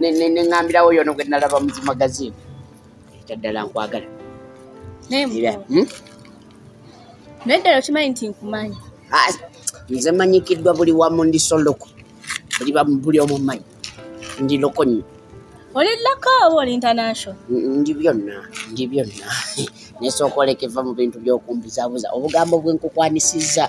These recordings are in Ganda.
neŋambirawo yono gwe nalaba muzi magazini ekyaddala nkwagala hmm? naye ddala okimanyi nti nkumanyi ah, nze manyikiddwa buli wamu ndi soloko buli omu manyi ndi loko nyo oli loko oba oli international ndi byonna ndi byonna nesooka olekeva mu bintu byokumbuzabuza obugambo bwenkukwanisizza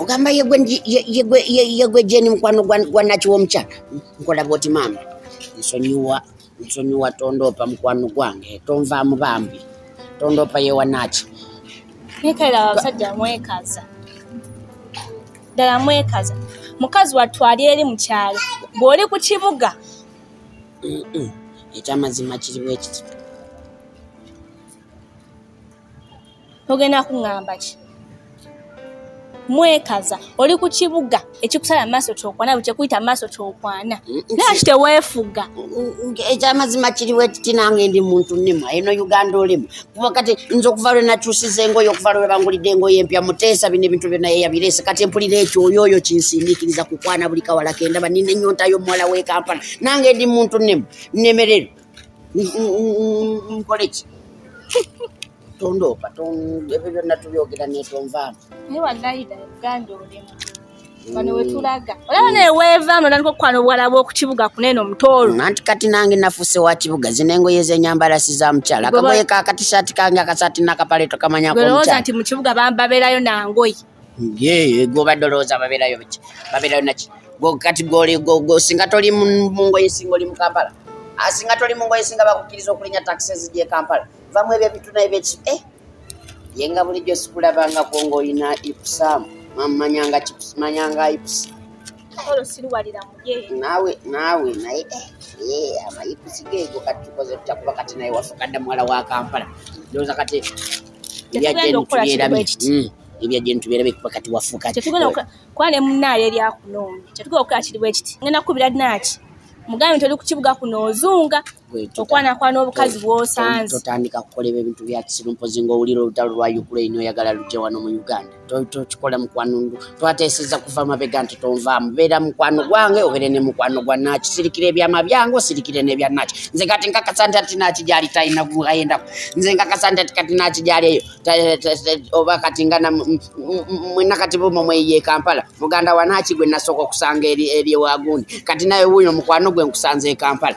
ogamba yegwe jeni mukwano gwa nakiwa omukyala nkola bwoti maama nsonyiwa nsonyiwa tondoopa mukwano gwange tonvaamu bambi tondoopa yewa naki nekaira abasajja mwekaza ddala mwekaza mukazi wattu ali eri mu kyalo bw'oli ku kibuga ekyamazima kiri bwekiti togenda kuŋamba ki mwekaza oli ku kibuga ekikusala maaso kyokwana bwe kyekuyita maaso kyokwana naki teweefuga ekyamazima kiri bwekiti nange ndi muntu nima eno uganda olimu kuba kati nze okuva lwe nakyusiza engoye okuva lwe bangulidde engoye empya muteesa bino ebintu byonna yeyabireese kati empulira ekyo oyo oyo kinsindiikiriza kukwana buli kawala kendaba nina ennyonta y'omuwala w'e kampala nange ndi muntu nemu nnemerere nkole ki tondoopa ebyo byonna tubyogera netonvaamu bano wetulaga olaba neweeva notandika okukwala obuwala bwokukibuga kuneeno mutoolo nanti kati nange nafuuse wa kibuga zino engoye zenyambala si za mukyala akagoye ka katishaati kange akasaati nakapale tokamanyagolowooza nti mukibuga babeerayo nangoye ye gwobadde olowooza babeerayo biki babeerayo naki kati singa toli mungoye singa oli mukampala asinga ah, toli mungoye singa bakukkiriza okulinya taxi ezijekampala vva mwebyo ebituna ebeki eh, ye nga bulijjo sikulabangako ngaolina ipusaamu mamanyanga manyanga ipusi naawe naawe naye eh, eh, amayipusi geego kati tukoze tutya kuba kati naye wafukadda muwala wa kampala ndowooza kati ebya jeni tubeera bekuba kati wafuuka kuba ne munaale eryakunoonya kyetugenda okukola kiri bwekiti ngenda kukubira naaki mugambe nti oli ku kibuga kuno ozunga okwanakwana obukazi bwosanze totandika kukoleba ebintu bya kisiru mpozi ngaowulira olutalo lwa ukraine oyagala lujja wano mu uganda tokikola mukwano twateeseza kuva mabega nti tonvaamu beera mukwano gwange obere ne mukwano gwa naki sirikira ebyama byange osirikire nebya naki nze kati nkakasa nti ati naki gyali talina guayendaku nze nkakasa nti ati kati naki gyali eyo oba kati nga mwena kati bumo mweyiye kampala muganda wa naki gwe nasooka okusanga eri ewagundi kati naye wuuyo mukwano gwe nkusanze ekampala